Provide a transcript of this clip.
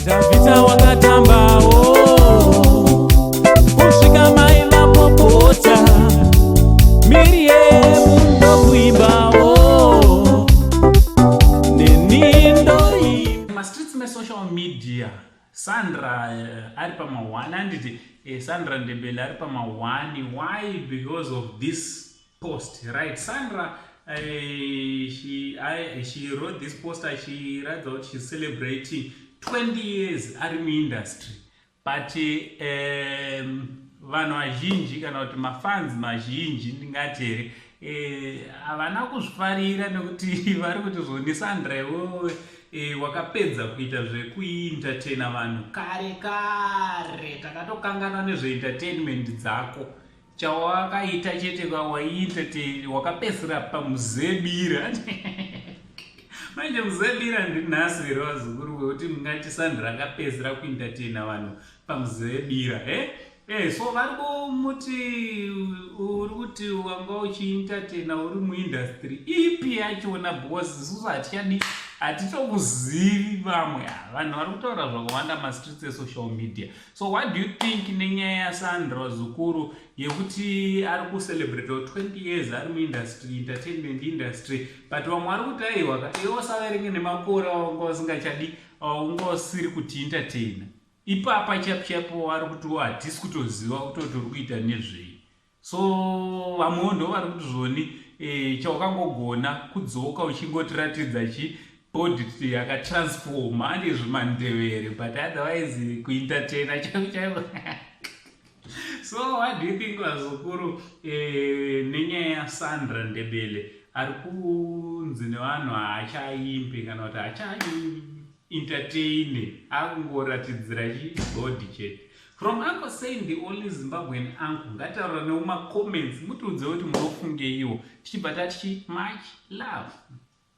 Davita wakatambawo kusvika mai vapopota Miriam ndokuimbawo neni ndoimba mastreets mesocial media Sandra uh, ari pamahwani anditi eh, Sandra Ndebele ari pamahwani why because of this post right sandra uh, she, I, she wrote this post achiratidza kuti she's celebrating 20 years ari muindustry but um, vanhu vazhinji kana kuti mafans mazhinji ndingati here eh, havana uh, kuzvifarira nekuti vari kuti zvoni sandra iwowe e, wakapedza kuita zvekuintertaina vanhu kare kare takatokanganwa nezveentertainment dzako chawakaita chete waiita te wakapesera pamuzebira manje muzebira ndinhasi here vazukuru wekuti mungati sandra akapesera kuintatena vanhu pamuzebira he e so vari kumuti uri kuti wanga uchiintatena uri muindastry ipi yachona because isusu hatichadi hatitokuzivi vamwe vanhu vari kutaura zvakawanda mastreets esocial media So what do you think nenyaya yaSandra Zukuru yekuti ari kucelebrate 20 years ari muindustry entertainment industry but vamwe ari kuti aiwa kati iwe usaverenge nemakore awanga usingachadi awanga usiri kuti entertaina ipapa chapu chapu wari kuti hatisi kutoziva kutoti uri kuita nezvei so vamwewo ndo vari kuti zvoni e, chawakangogona kudzoka uchingotiratidza chi boditi yakatransforma ane zvimandevere but otherwise kuentertaina chaiko chaiko so what do you think vazukuru eh, nenyaya yasandra ndebele ari kunzi nevanhu haachaimbe kana kuti haachaimbe entertainer akungoratidzira chi body chete from uncle saying the only zimbabwean uncle ngataura newo macomments mutiudze kuti munofungeiwo tichibva tati chi much love